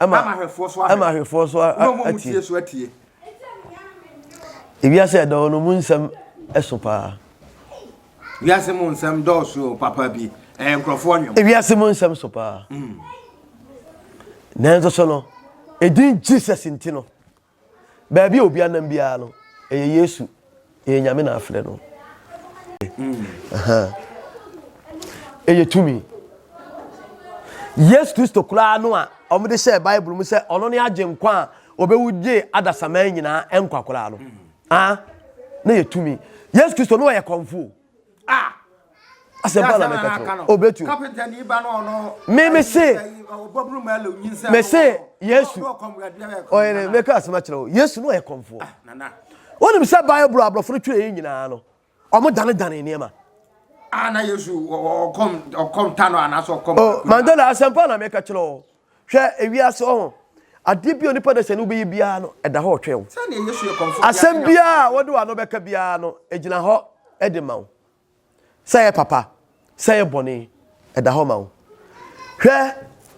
Ama ahwɛfoɔ so ahwɛ. Ama ahwɛfoɔ so atie. Na wɔn a wɔtie so atie. Ewiase a ɛdɔɔ no mu nsɛm ɛso paa. Wiase mu nsɛm dɔɔso o papa bi ɛyɛ nkurɔfoɔ nwom. Ewiase mu nsɛm so paa. Mm. Nanso so no, edin Jesus nti no. Baabi a obi anam biara no, ɛyɛ Yesu. Ɛyɛ Nyame na afrɛ no. Ɛyɛ tumi. Yesu Kristo koraa no a wɔde hyɛɛ Bible mu sɛ ɔno ne agyenkwa a ɔbɛwu gyee adasamma nyinaa nkwa koraa no, ah, na yɛ tumi. Yesu Kristo no ɔyɛ kɔmfo. Ah! asɛmpa na meka kyerɛ wo obetu me me se me se yesu ɔyɛ ne meka asɛm akyerɛ wo yesu no ɔyɛ kɔmfoɔ wonim sɛ bible aborɔfo no twerɛ yɛ nyinaa no ɔmo danedane nneɛma ana yesu ɔkɔm ɔkɔm ta no anaasɛ ɔkɔm oh, mandela asɛmpa na meka kyerɛ wo Hwɛ ewiase ɔho. Adeɛ bi a onipa da sani wobɛyɛ biara no, ɛda hɔ ɔtwɛn wo. Asɛm biara a wode w'ano bɛka biara no, ɛgyina hɔ de ma wo. Sɛ ɛyɛ papa, sɛ ɛyɛ bɔne, ɛda hɔ ma wo. Hwɛ,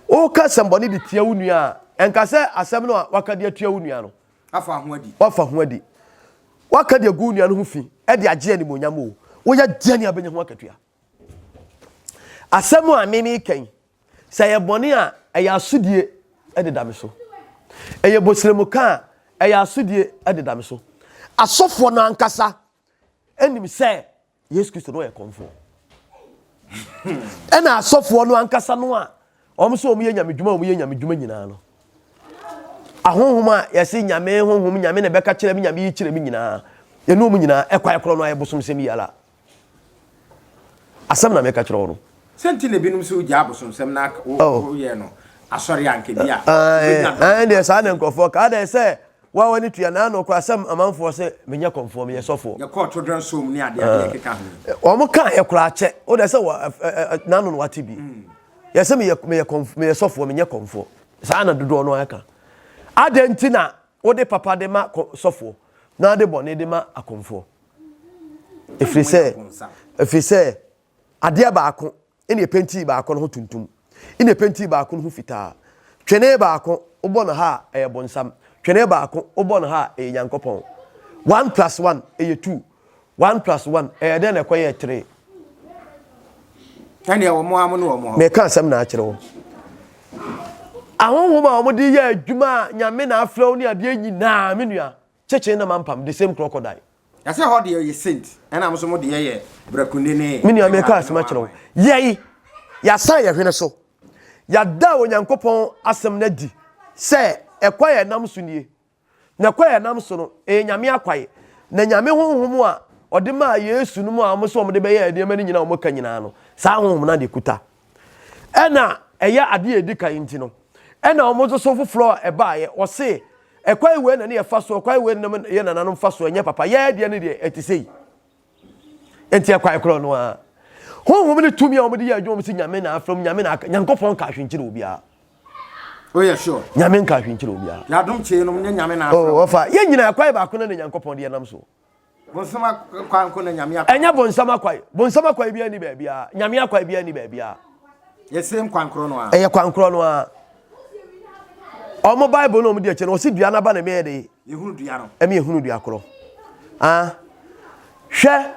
woka asɛmbɔne de tia wo nua a, ɛnka sɛ asɛm no a waka de atua wo nua no, wafa ho adi. Wafa ho adi. Waka de agu wo nua no ho fi de agye animuonyam o, woyɛ deɛn a ɛbɛnya ho akatua. Asɛm a me meka yi, Sɛ ɛyɛ bɔne a, ɛyɛ asodie de da me so. Ɛyɛ boseremka a, ɛyɛ asodie de da me so. Asɔfoɔ no ankasa nim sɛ Yesu Kristo no yɛ kɔmfoɔ. Ɛna asɔfoɔ no ankasa no a wɔn sɛ wɔn yɛ nyamedwuma wɔn yɛ nyamedwuma nyinaa no ahonhom a yɛse nyame honhom nyame na ɛbɛka kyerɛ me nyame yi kyerɛ me nyinaa ɛne wɔn nyinaa ɛkwae korɔ no ayɛ bosomsɛm yi ara Asɛm na meka kyerɛ wo no. Sɛ nti na ebinom so gyaa abosomsɛm na woyɛ no asɔre a nka bi a. Ɛn deɛ saa na nkurɔfoɔ ka. Adɛn sɛ wa w'ani tua na nokwasɛm amanfoɔ sɛ menyɛ kɔmfoɔ, meyɛ sɔfoɔ. Yɛkɔɔ totorant som ne adeadeɛ ɛkeka ho. Wɔn kaa yɛ koraa kyɛ. Wo deɛ sɛ n'ano na wate bi. Yɛ sɛ meyɛ sɔfoɔ, menyɛ kɔmfoɔ. Saa na dodoɔ no ara ka. Adɛn nti na wode papa de ma sɔfoɔ na wode bɔne de ma akɔmfoɔ? Ɛfiri sɛ, ɛfiri sɛ adeɛ baako ɛna ɛpɛntii baako no ho tuntum, ɛna ɛpɛntii baako no ho fitaa. Twene baako wobɔ no ha a ɛyɛ bonsam, twene baako wobɔ no ha a ɛyɛ Nyankopɔn. One plus one ɛyɛ two, one plus one ɛyɛ dɛn na ɛkɔyɛɛ three? Ɛnneɛ wɔn a wɔne wɔn hɔ. Meka asɛm na akyerɛ wɔn. Ahonhom a wɔde yɛ adwuma a nyame na afrɛ wo ne adeɛ nyinaa me nua. Kyekyee na mampam the same crocodile. Na sɛ hɔ deɛ ɔyɛ saint ɛna mo so mo deɛ yɛ brakunde ne. Me nua meka asem akyerɛ wo yɛi yasan yɛ hwene so yada Onyankopɔn asem no adi sɛ ɛkwan a ɛnam so nie na kwan a ɛnam so no ɛyɛ Nyame akwan na Nyame honhom a ɔde maa Yesu no mu a wɔse wɔde bɛyɛ nneɛma no nyina a wɔka nyinaa no saa honhom no na ɛkuta Ɛna ɛyɛ ade a ɛdi kan nti no, ɛna wɔn nso so foforɔ a ɛbaeɛ, wɔse, ɛkwan wei na ne yɛfa soɔ, ɛkwan wei na yɛ nananom fa soɔ, ɛnyɛ papa, yɛn deɛ ne deɛ ɛte sei. Nti ɛkwan korɔ no ara. Honhom ne tumi a wɔde yɛ adwuma mu sɛ nyame na afrɛ mu, nyame na aka, Nyankopɔn nka ahwe nkyerɛ obiara. Oh yeah, sure. Nyame nka ahwe nkyerɛ obiara. Yɛadom kyee nom nyɛ nyame na afrɛ mu. Oh, wɔfa, yɛn nyinaa ɛkwan baako na na Nyankopɔn de yɛnam soɔ. Bonsam akwa nko na Nyame akwa. Ɛnyɛ bonsam akwa. Bonsam akwa biara ni baabiara. Nyame akwa biara ni baabiara. Yɛ same kwan korɔ no ara. Ɛyɛ kwan korɔ no ara. Ɔmo Bible na ɔmo di akyi no, ɔsi dua n'aba na ɛmɛ yɛ de. Yɛhunu dua no. Ɛmɛ yɛhunu dua korɔ. Ah, hwɛ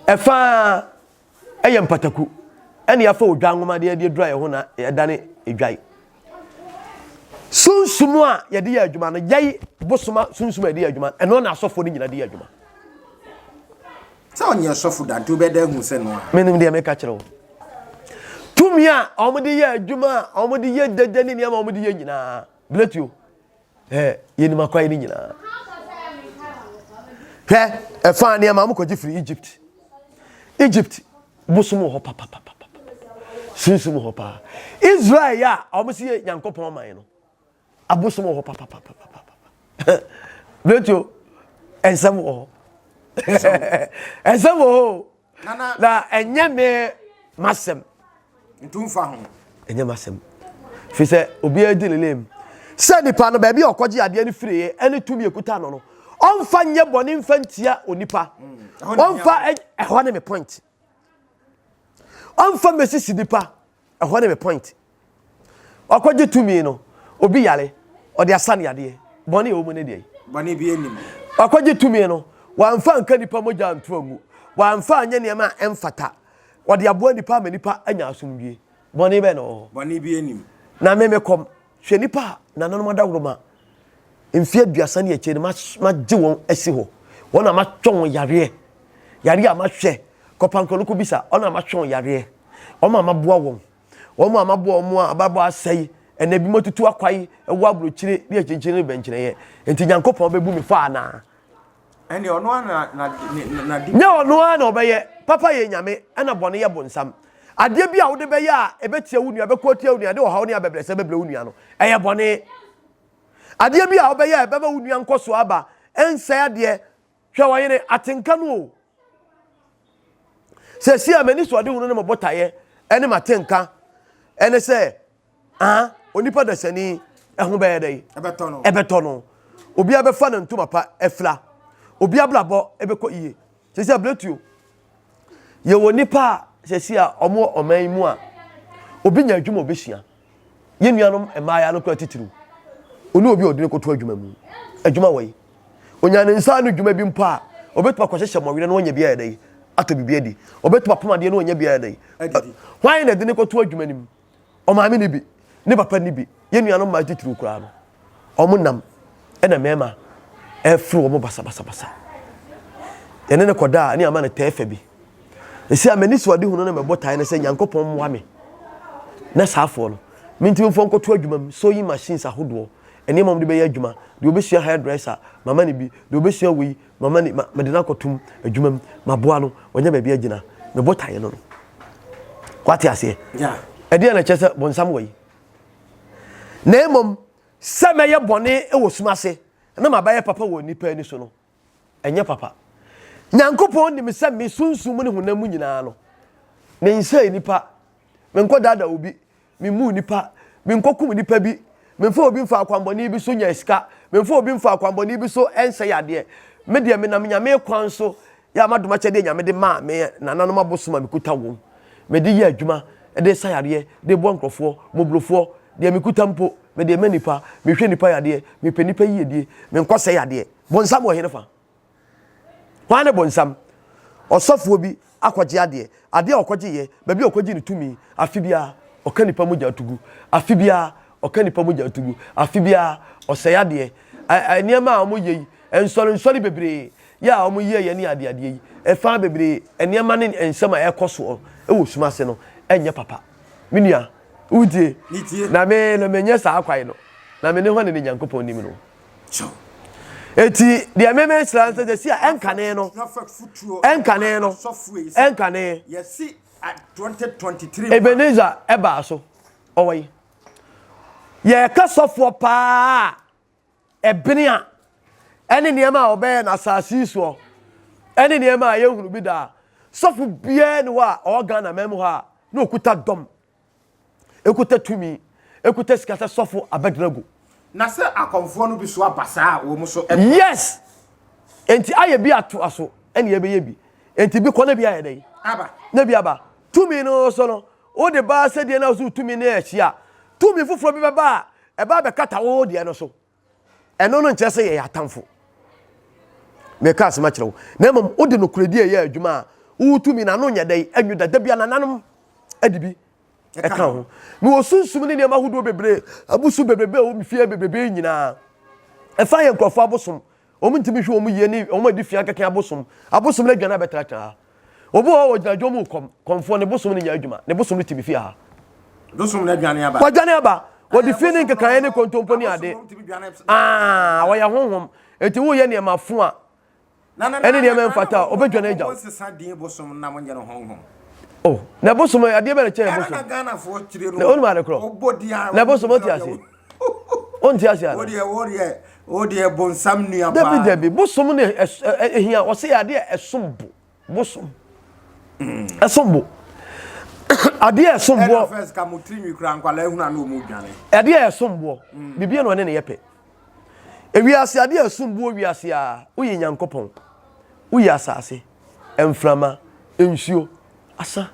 ɛfaa. Ɛyɛ mpataku na yɛafa odwan nwoma de de adura yɛn ho na ɛdane adwae. Sunsum a yɛde yɛ adwuma no, yɛi bosoma sunsum a yɛde yɛ adwuma, ɛno na asɔfoɔ no nyina de yɛ adwuma. Sɛ ɔnyɛ ɔsɔfo da nti wobɛda ahu sɛ no a. Menim deɛ meka kyerɛ wo. Tumi a wɔde yɛ adwuma a wɔde yɛ dede ne nneɛma a wɔde yɛ nyinaa, blatio. Hɛ, yɛnim akwae no nyinaa. Hwɛ, ɛfaa nneɛma a mokɔgye firi Egypt. Egypt bosom wɔ hɔ papapapa. Sunsum wɔ hɔ paa. Israel a wɔn si yɛ Nyankopɔn man no, abosom wɔ hɔ papapapa. Bretio, ɛnsɛm wɔ hɔ. Ɛnsɛm wɔ hɔ. na ɛnyɛ me m'asɛm ntumfa ho ɛnyɛ m'asɛm fi sɛ obiara di ne lane sɛ nipa no baabi a ɔkɔgye adeɛ no firiye ɛne tumi ekuta no no ɔmfa nyɛ bɔne mfa ntia onipa ɔmfa ɛhɔ ne me point ɔmfa mmesisi nipa Ɛhɔ ne me point. Wakɔgye tumi no, obi yare, ɔde asa no yadeɛ. Bɔne a ɛwɔ mu ne deɛn? Bɔne bi anim. Wakɔgye tumi no, wamfa anka nnipa mogya anto angu. Wamfa anyɛ nneɛma a ɛmfata. Ɔde aboa nnipa ama nnipa anya asomdwie. Bɔne bɛn na ɛwɔ hɔ? Bɔne bi anim. Na me mekɔm. Hwɛ nnipa a nananom adaworoma mfe aduasa ne akyire no magye wɔn asi hɔ, wɔn a mahwɛ wɔn yareɛ, yareɛ a mahwɛ, kɔpankoro no kɔbisa, wɔn a mahwɛ wɔn yareɛ, wɔn a maboa wɔn, wɔn a maboa wɔn a abrabɔ asɛe, ɛna ebinom atutu akwae wɔ aburokyire ne akyinkyini ne bɛnkyerɛeɛ, enti Nyankopɔn bɛbu me fɔ anaa? Ɛnneɛ ɔno ara na na ne ne n'ade. Nyɛ ɔno ara na ɔbɛyɛ. Papa yɛ Nyame, ɛna bɔne yɛ bonsam. Adeɛ bi a wode bɛyɛ a ɛbɛtia wo nua, ɛbɛko atia wo nua, ɛde ɔhaw ne abɛbrɛsɛ bɛbrɛ wo nua no, ɛyɛ bɔne. Adeɛ bi a wobɛyɛ a ɛbɛma wo nua nkɔsoɔ aba, ɛnsɛe adeɛ. Hwɛ ɔyere, atenka no o. Seesei a m'anisoɔdehunu ne me botaeɛ ne m'atenka ne sɛ Ah, onipa dasani, ɛho bɛyɛ dɛ. Ɛbɛtɔ no. Ɛbɛtɔ no. Obi abɛfa ne ntoma pa afira. Obi abrabɔ ɛbɛkɔ yie. Sɛ sɛ abiratuo. Yɛwɔ nipa a sɛsi a wɔn ɔman yi mu a obi nya adwuma obɛsua. Yɛn nuanom mmaayaa no kora titiriw. Ɔne obi a ɔde no kɔto adwuma mu. Adwuma wɔ yi. Onya ne nsa ano adwuma bi mpo a ɔbɛtumi akɔhyehyɛ mmɔwerɛ na wɔnyɛ bi ayɛ dɛ atɔ biribi adi. Ɔbɛtumi apam adeɛ na wɔnyɛ bi ayɛ dɛ. Hwan na ɛde no kɔto adwuma no mu? ɔmaame no bi ne papa no bi yɛ nuanom maa titiriw koraa no wɔn nam ɛna mmarima ɛfiri wɔn basabasabasa yɛne no kɔdaa ne ama no tɛɛ fɛ bi ɛsi a m'ani so ade hunu no mɛbɔ tae no sɛ nyankopɔn mmoa me na saafoɔ no mentumi mfoɔ nkɔto adwuma mu sewing machines ahodoɔ nneɛma wɔn de bɛyɛ adwuma deɛ wɔbɛsua hairdresser mama no bi deɛ wɔbɛsua wei Mama ni, ma, mede no akɔtom adwuma mu, maboa no, wanya baabi agyina, me botaeɛ no no. Wate aseɛ? Ɛdeɛ na ɛkyɛ sɛ bɔnsam wɔ yi. Na mmom, sɛ mɛyɛ bɔne wɔ sum ase na mabɛyɛ papa wɔ nnipa ani so no, ɛnyɛ papa. Nyankopɔn nim sɛ me sunsum mu ne honam mu nyinaa no, mensɛe nnipa, menkɔdaadaa obi, Mimmu nnipa. Minkokum nnipa bi. Memfa obi mfa akwammɔne bi so nya sika. Memfa obi mfa akwammɔne bi so nsɛe adeɛ. Me deɛ, menam Nyame kwan so yɛ a m'adom akyɛdeɛ a Nyame de maa me nananom abosom a mekuta wɔn. Mede yɛ adwuma de sa yareɛ, de boa nkurɔfoɔ, mmɔborɔfoɔ. Deɛ mekuta mpo, mede rema nnipa. Mehwɛ nnipa yadeɛ. Mepɛ nnipa yiedie. Menkɔsɛe adeɛ. Bonsam wɔ henefa? Hwan ne bonsam? Ɔsɔfoɔ bi akɔgye adeɛ. Adeɛ a ɔkɔgyeeɛ, baabi a ɔkɔgyee ne tumi, afe biara ɔka nnipa mogya to gu. Afe biara ɔka nnipa mogya to gu. Afe biara ɔsɛe adeɛ. Ɛ, nneɛma a wɔyɛ yi, nsɔrensɔre bebree yɛ a wɔyɛeɛ ne adeadeɛ yi, ɛfa bebree, nneɛma ne nsɛm a ɛrekɔ soɔ wɔ sum ase no, ɛnyɛ papa. Me nua, wotie? Na me, na menyɛ saa kwae no, na me ne hwan na ne Nyankopɔn nim no? kyɛw. Enti deɛ mmɛmɛ ahyira nso de si a ɛnkane no ɛnkane no ɛnkane. Ebenezer ɛbaa so ɔwɔ yi yɛka sɔfoɔ paa ɛbene a ɛne nneɛma a ɔbɛyɛ na asase yi soɔ ɛne nneɛma a yɛhunu bi daa sɔfo biara ni hɔ a ɔwɔ Ghana mɛmu hɔ a na okuta dɔm ekuta tumi, ekuta sika sɛ sɔfo Abednego. Na sɛ akɔmfoɔ no bi so aba saa a, wɔn so ɛkɔ. Yes! Enti ayɛ bi ato aso, ɛna yɛbɛyɛ bi. Enti bi kɔ na bi ayɛ dɛ. Aba. Na bi aba. Tumi no so no, wode baa sɛdeɛ na so tumi no ɛhyia. Tumi foforɔ bi bɛba a, ɛba abɛkata wo deɛ no so. Ɛno no nkyerɛ sɛ yɛyɛ atamfo. Meka asɛm akyerɛ wo. Na mmom wode nokorɛdi a ɛyɛ adwuma a wotumi na ano nyɛ dɛ anwu da da bi anananom de bi ɛka ho. Na wɔ sunsum ne nneɛma ahodoɔ bebree, abusu bebrebe a ɛwɔ fie bebrebe nyinaa. Ɛfa yɛ nkurɔfoɔ abosom. Wɔn ntumi nhwɛ wɔn yie ne wɔn adi fia kɛkɛ abosom. Abosom no aduane abɛtenatena ha. Obi wɔ hɔ ɔgyina dwom mu kɔm, kɔmfoɔ, ne bosom no nyɛ adwuma, ne bosom no tumi fie ha. Dosom no aduane aba. Wɔdwane aba. Wɔde fi ne nkekaeɛ ne kontompo ne ade. Aah, wɔyɛ honhom. Enti woyɛ nneɛma fo a ɛne nneɛma ɛmfata a, wɔbɛdwane agya wo. Oh, na bosom, adeɛ bɛn na ɛkyɛn bosom? Na wonim ade korɔ? Na bosom, wote aseɛ? wonte ase ana wodeɛ wodeɛ wodeɛ bonsam nua paa dabi dabi bosom ne ehia wɔse adeɛ ɛsom bo bosom ɛsom bo adeɛ ɛsom boɔ first ka mo tiri nwi kura nkwalaa ehunu ano ɔmo dwane adeɛ ɛsom boɔ mm. bibia na ɔne ne yɛ pɛ ewiase adeɛ ɛsom boɔ wiase a woyɛ nyankopɔn woyɛ asase mframa, nsuo, asa.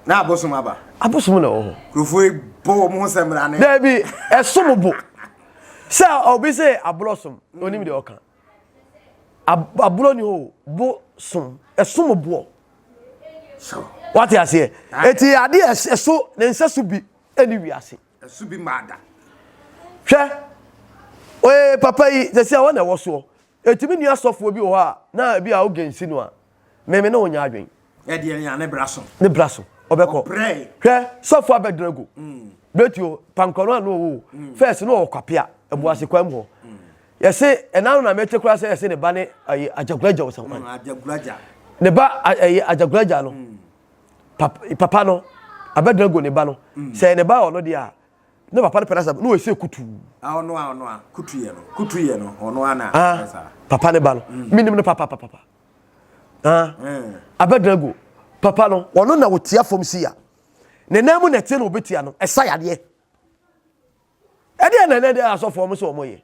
Na abosom aba. Abosom na ɛwɔ ho. Kurofo yi bɔ wɔn ho sɛ mmara ne. Daabi ɛsom bo sɛ obi sɛ aborɔ som mm. onim deɛ ɔka aborɔ ni hɔ bo som ɛsom boɔ wate aseɛ ah. eti ade ɛso ne nsa so bi ɛni wiase. ɛso bi maa da. hwɛ oye papa yi sɛ sɛ wɔn na ɛwɔ soɔ. Etumi nni asɔfoɔ bi wɔ hɔ a, na ebi a oge nsi no a, me me ne wo nyɛ adwen. Ɛdeɛ nea ne bra so. Ne bra so, ɔbɛkɔ. Ɔbrɛe. Hwɛ, sɔfoɔ abɛdena agu. Betio, pankɔ no a na ɔwɔ o, first na ɔwɔ kwapea, abuase kwan mu hɔ. Yɛse, ɛna ano na mete koraa sɛ yɛse ne ba ne ɛyi Agyaguragya o sɛ kwan. Agyaguragya. Ne ba a ɛyi Agyaguragya no, pap papa no abɛdena agu ne ba no. Sɛ ɛyɛ ne ba a ɔno deɛ a, Ne papa no pɛ no asɛm, na ɔsɛ kutuu. Ah, ɔno a, ɔno a, kutuyɛ no, kutuyɛ no, ɔno a na Ah, ɔyɛ saa. papa ne ba no, mm. menim no papapapapa. Ah, mm. Abednego, papa no, ɔno na ɔtia fam si a. Ne nan mu na ɛte na ɔbɛtia no, ɛsa yadeɛ. Ɛdeɛ na ɛnɛ deɛ asɔfoɔ mo sɛ ɔmɔyɛ.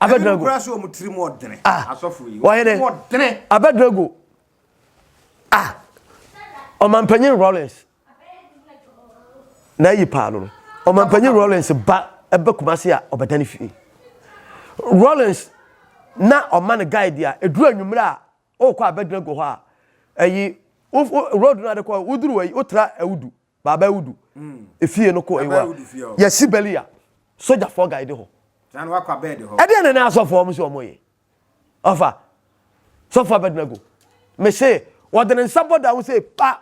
Abednego. Ɛne kura sɛ ɔmo tiri mu ɔdene. Ah, asɔfo yi, ɔmo ɔdene. Abednego, ah, ɔmampanyin Rollins. na ayi paa no no ɔmampanyin rollins ba ɛbɛ kumase a ɔbɛda ne fie rollins na ɔma no guide a ɛduru anwummerɛ a ɔrekɔ abɛdena gu hɔ a ɛyi road no adekɔ woduru ayi wotra awudu baaba awudu mm. efie no kɔ ɛyiwa yɛsi bɛli a sogyafoɔ guide hɔ ɛdeɛ ne ne asɔfoɔ ɔmo sɛ ɔmo yɛ ɔfa sɔfoɔ abɛdena gu mese wɔde ne nsa bɔ da ho sɛ pa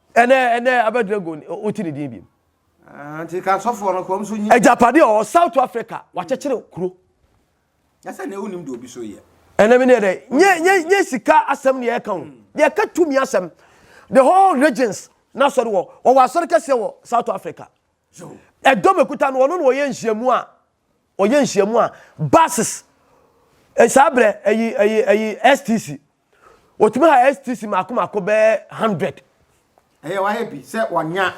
Ɛnɛ ɛnɛ abɛ dragon oti ne din bi. Ah, nti ka sɔfoɔ no kɔm so nyi. Agyapade ɔwɔ South Africa wakyekyere kuro. Yasa ne wonim de obi so yɛ. Ɛnɛ mi ne yɛ dɛ nye nye nye sika asɛm ne yɛ ka o yɛ ka tumi asɛm the whole regions na sɔre wɔ ɔwɔ asɔre kɛseɛ wɔ South Africa ɛdɔm ekuta no ɔno na ɔyɛ nhyiamu a ɔyɛ nhyiamu a buses saa brɛ ɛyi ɛyi ɛyi STC Wɔtumi ha STC mako mako bɛyɛ hundred. Ɛyɛ wayɛ bi sɛ wɔnya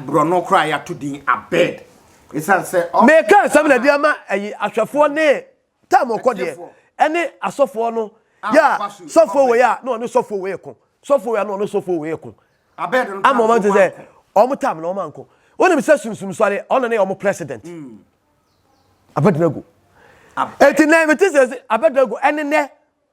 borɔno koraa yɛato din abed ɛsiane sɛ. Meka nsɛm na de ama ɛyi ahwɛfoɔ ne tam ɔkɔ deɛ ɛne asɔfoɔ no yɛ a sɔfoɔ wei a na ɔne sɔfoɔ wei ko sɔfoɔ wei a na ɔne sɔfoɔ wei ko ama ɔma nti sɛ ɔmo tam na ɔma nko wonim sɛ sunsum sɔre ɔno ne ɔmo president hmm. abɛdena gu ɛti nɛ mete sɛ abɛdena gu ɛne nɛ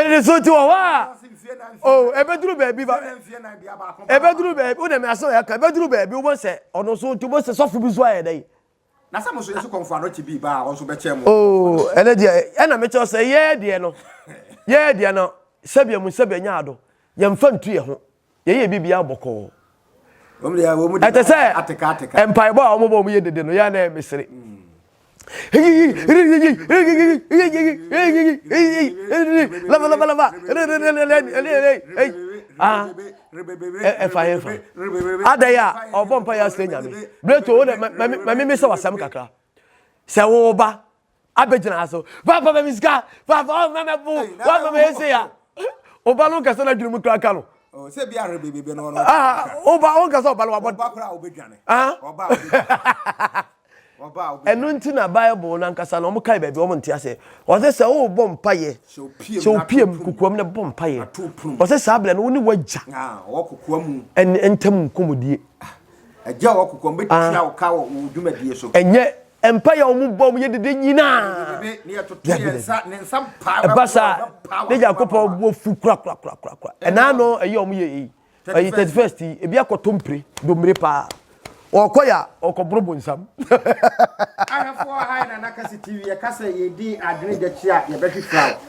Nnidiso nti wɔ hɔ a oh, ɛbɛduru baabi ba ɛbɛduru baabi wo na mi asɛm yɛ ka ɛbɛduru baabi wobɔ sɛ ɔno so nti wobɔ sɛ sɔfo bi so ayɛ dɛ. na sɛ mo nso yɛsi kɔmfo ano kye bi ba a ɔnso bɛkyɛ mo. oo oh, ɛnɛ deɛ ɛna mekyɛw sɛ yɛɛ deɛ no yɛɛ deɛ no sɛbea mu sɛbea nya ado yɛmfa ntu yɛ ho Yɛyɛ biribiara bɔkɔɔ. Ɛte sɛ mpaebɔ a wɔbɔ wɔn yɛ dede no, yɛ a na ɛyɛ mesere. Lava lava lava. Ah, ɛfa yɛn fa. Adɛn a ɔbɔ mpa yɛ asrɛ nyame. Breto wo dɛ, ma me sɛ wasɛm kakra. Sɛ wo ba. abɛgyina ha so papa ma me sika papa ɔma mɛ bo ɔma mɛ ɛsɛ ya ɔba no nkasa no adwene mu kra ka no oh, sɛ bi ahwɛ bebebe no ɔba ah, ɔnkasa ɔba no wabɔ ɔba kora ɔbɛdwane ah? ɔba ɔbɛdwane ɛno nti na bible no ankasa no ɔmokae baabi ɔmo nte aseɛ ɔsɛ sɛ wobɔ mpayɛ sɛ wopiam kokoam na bɔ mpayɛ ɔsɛ saa berɛ no wo ne woagya ah, ɛne ntam nkɔmmɔdie agya wɔ kokoam bɛtua wo ka wɔ dwumadie so ɛnyɛ mpae a wɔn bɔ mu yɛ dede nyinaa yɛ dede ɛba saa ne nyankopɔn bɔ fu korakorakorakora ɛna ano ɛyɛ wɔn yɛ eyi ɛyi thirty first yi ebi akɔto mpire domire paa ɔkɔ ya ɔkɔ boro bonsam. ahwɛfoɔ ha yɛ nana kasi tv yɛka sɛ yɛdi adwene gya kyi a yɛbɛhwehwɛ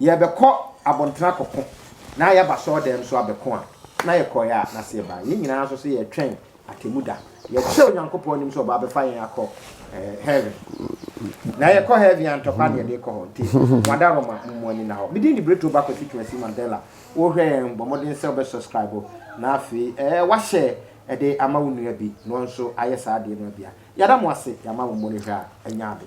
Yɛrebɛkɔ abɔntene akɔko na yɛaba asɔredan mu nso abɛko a, na yɛkɔeɛ a na sɛ yɛba a, yɛn nyinaa nso sɛ yɛretwɛn atemmuda. Yɛkyerɛ Onyankopɔn anim sɛ ɔbɛfa yɛn akɔ heaven. Na yɛkɔ heaven a, ntɔkwa na yɛde rekɔ hɔ. Nti, Wada Roma, mo ani nna hɔ. Me din de Bretto ba Kwasi Twumasi Mandela. Worehwɛ yɛn, bɔ mmɔden sɛ wobɛ subscribe na afei wahyɛ de ama wo nua bi na ɔno nso ayɛ saa adeɛ no abia. Yɛda mo ase, yɛama mo mmɔnehwɛ a ɛnyɛ ade.